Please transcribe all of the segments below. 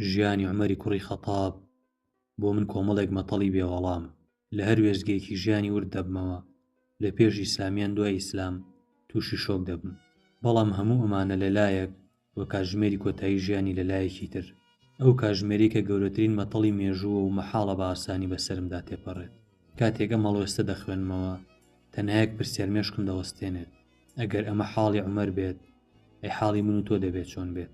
ژیانی عومەری کوڕی خەتاب بۆ من کۆمەڵێک مەتەڵی بێ وەڵام لە هەر وێستگەیەکی ژیانی ورد دەبمەوە لە پێش ئیسلامیان دوای ئیسلام تووشی شۆک دەبم بەڵام هەموو ئەمانە لەلایەک و کاژمێری کۆتایی ژیانی لە لایەکی تر ئەو کاژمێری کە گەورەترین مەتەڵی مێژووە و مەحاڵە بە ئاسانی بەسەرمدا تێپەڕێت کاتێک ئەم هەڵوێستە دەخوێنمەوە تەنها یەک پرسیار مێشکم دەوەستێنێت ئەگەر ئەمە حاڵی عومەر بێت ئەی حاڵی من و تۆ دەبێت چۆن بێت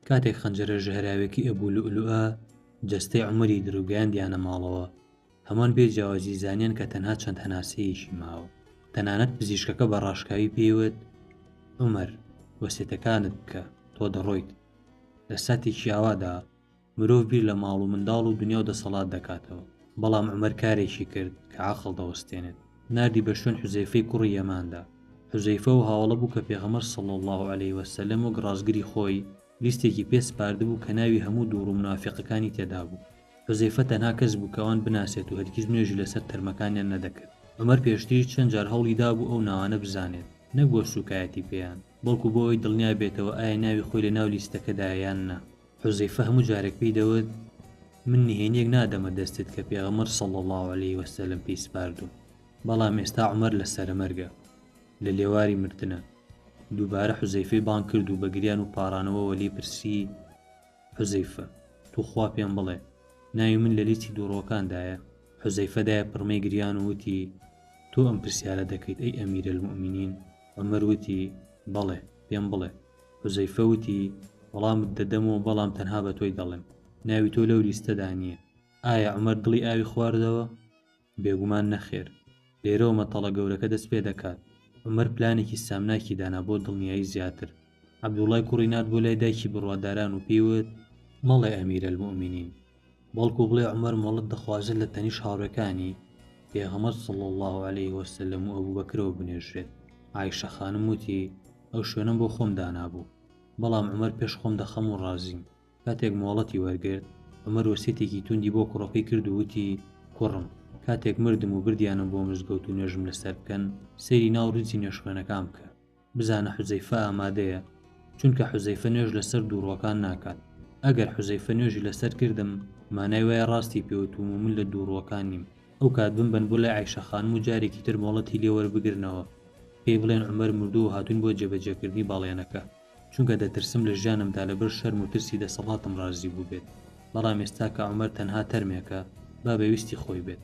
کاتێک خەنجەرە ژەهراوێکی ئەبوو لوئلوئە جەستەی عومەری درو گەیاندیانە ماڵەوە، هەموان بێ جیاوازی زانیان کە تەنها چەند هەناسەیەکی ماوە، تەنانەت پزیشکەکە بە ڕاشکاوی پێی وت، عومەر، وەسێتەکانت بکە، تۆ دەڕۆیت. لە ساتێکی ئاوادا، مرۆڤ بیر لە ماڵ و منداڵ و دنیا و دەسەڵات دەکاتەوە، بەڵام عومەر کارێکی کرد کە عەقڵ دەوەستێنێت، ناردی بە شوێن حوزەیفەی کوڕی یەماندا، حوزەیفە و هاوەڵە بوو کە پێغەمبەر صلی اللە علیە و سلم وەک ڕاستگری خۆی لیستێکی پێ سپاردبوو کە ناوی هەموو دووڕ و مونافیقەکانی تێدابوو، حوزەیفە تەنها کەس بوو کە ئەوان بناسێت و هەرگیز نوێژی لەسەر تەرمەکانیان نەدەکرد، عومەر پێشتریش چەند جار هەوڵی دابوو ئەو ناوانە بزانێت، نەک بۆ سوکایەتی پێیان، بەڵکو بۆ ئەوەی دڵنیا بێتەوە ئایا ناوی خۆی لە ناو لیستەکەدایە یان نا. حوزەیفە هەموو جارێک پێی دەوت من نهێنیەک نادەمە دەستت کە پێغەمەر سەڵ الله عليه وسلم پێی سپاردوم بەڵام ئێستا عمر لە سەرەمەرگە لە لێواری مردنە دووبارە حوزەیفەی بان کرد و بەگریان و پارانەوەوە لی پرسی حوزەیفە توخوا پێم بڵێ ناوی من لە لیستی دووڕۆکاندایە حوزەیفەدایە پڕمەی گریان و وتی تۆ ئەم پرسیارە دەکەیت ئەی ئەمیرە المؤمنین عمر وتی بەڵێ پێم بڵێ حوزەیفە وتی، وەڵامت دەدەمەوە بەڵام تەنها بە تۆی دەڵێم، ناوی تۆ لەو لیستەدا نییە. ئایا عومەر دڵی ئاوی خواردەوە؟ بێگومان نەخێر. لێرەوە مەتەڵە گەورەکە دەست پێ دەکات. عومەر پلانێکی سامناکی دانا بۆ دڵنیایی زیاتر. عەبدوڵڵای کوڕی نارد بۆ لای دایکی بڕواداران و پێی وت، مەڵێ ئەمیرەلموئمینین، بەڵکو بڵێ عومەر مۆڵەت دەخوازێت لە تەنیشت هاوڕێکانی پێغەمبەر صلی اللە علیه وسلم و ئەبوبەکرەوە بنێژرێت عائیشە خانم وتی ئەو شوێنەم بۆ خۆم دانابوو بەڵام عومەر پێش خۆم دەخەم و ڕازیم کاتێک مۆڵەتی وەرگرت عومەر وەسیەتێکی توندی بۆ کوڕەکەی کرد و وتی کوڕم کاتێک مردم و بردیانم بۆ مزگەوت و نوێژم لەسەر بکەن سەیری ناو ڕیزی نوێژخوێنەکان بکە بزانە حوزەیفە ئامادەیە چونکە حوزەیفە نوێژ لەسەر دووڕوەکان ناکات ئەگەر حوزەیفە نوێژی لەسەر کردم مانای وایە ڕاستی پێوتوم و من لە دووڕوەکان نیم ئەو کات بمبەن بۆ لای عیشە خانم و جارێکی تر مۆڵەتی لێ وەربگرنەوە پێی بڵێن عومەر مردووە هاتوین بۆ جێبەجێکردنی باڵێنەکە چونکە دەترسم لە ژیانمدا لەبەر شەرم و ترسی دەسەڵاتم ڕازی بووبێت بەڵام ئێستا کە عومەر تەنها تەرمێکە با بە ویستی خۆی بێت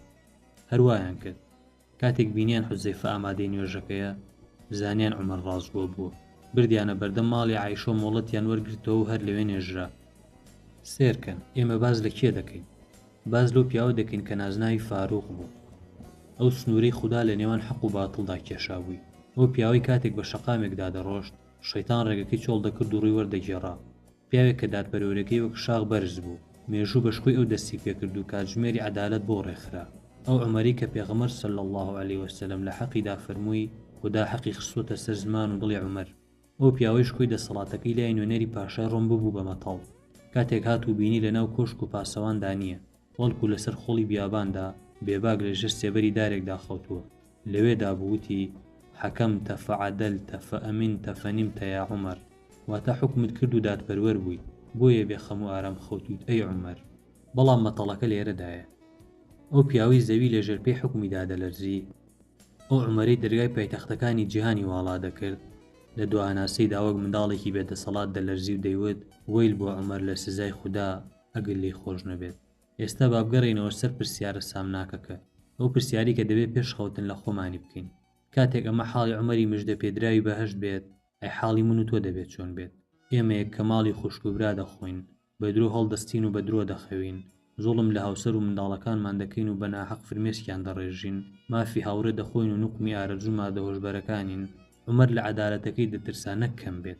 هەر وایان کرد کاتێک بینیان حوزەیفە ئامادەی نوێژەکەیە زانیان عومەر ڕاستگۆ بووە، بردیانە بەردەم ماڵی عایشە و مۆڵەتیان وەرگرتەوە و هەر لەوێ نێژرا. سێرکەن، ئێمە باس لە کێ دەکەین؟ باس لەو پیاوە دەکەین کە نازناوی فاروق بوو. ئەو سنوورەی خودا لە نێوان حەق و باتڵدا کێشابووی. ئەو پیاوەی کاتێک بە شەقامێکدا دەڕۆشت، شەیتان ڕێگەکەی چۆڵ دەکرد و ڕووی وەردەگێڕا. پیاوێک کە دادپەروەریەکەی وەک شاخ بەرز بوو، مێژوو بە شکۆی ئەو دەستی پێکرد و کاتژمێری عەدالەت بۆ ڕێکخرا. ئەو عومەری کە پێغەمبەر صلی اللە علیە وسلم لە حەقیدا فەرمووی، خودا حەقی خستووەتە سەر زمان و دڵی عومەر. ئەو پیاوەی شکۆی دەسەڵاتەکەی لای نوێنەری پاشای ڕۆم ببوو بە مەتەڵ. کاتێک هات و بینی لەناو کۆشک و پاسەواندا نییە. بەڵکو لەسەر خۆڵی بیاباندا بێباک لە ژێر سێبەری دارێکدا خەوتووە، لەوێدا بوو وتی، حەکەمتە فعەدەلتە فئەمنتە فەنیمتە یا عومەر، واتە حوکمت کرد و دادپەروەر بوویت، بۆیە بێ خەم و ئارام خەوتوویت ئەی عومەر. بەڵام مەتەڵەکە لێرەدایە. ئەو پیاوەی زەوی لە ژێر پێی حوکمی دادەلەرزی، ئەو عومەرەی دەرگای پایتەختەکانی جیهانی واڵا دەکرد، لە دواهەناسەیدا وەک منداڵێکی بێدەسەڵات دەلەرزی و دەیوت، وەیل بۆ عومەر لە سزای خودا، ئەگەر لێی خۆش نەبێت. ئێستا با بگەڕێینەوە سەر پرسیارە سامناکەکە، ئەو پرسیارەی کە دەبێت پێش خەوتن لە خۆمانی بکەین، کاتێک ئەمە حاڵی عومەری مژدەپێدراوی بەهەشت بێت، ئەی حاڵی من و تۆ دەبێت چۆن بێت؟ ئێمەیەک کە ماڵی خوشک و برا دەخۆین، بە درۆ هەڵدەستین و بە درۆ دەخەوین، زوڵم لە هاوسەر و منداڵەکانمان دەکەین و بە ناهەق فرمێسکیان دەڕێژین، مافی هاوڕێ دەخۆین و نوقمی ئارەزووی مادە هۆشبەرەکانین، عومەر لە عەدالەتەکەی دەترسا نەک کەم بێت.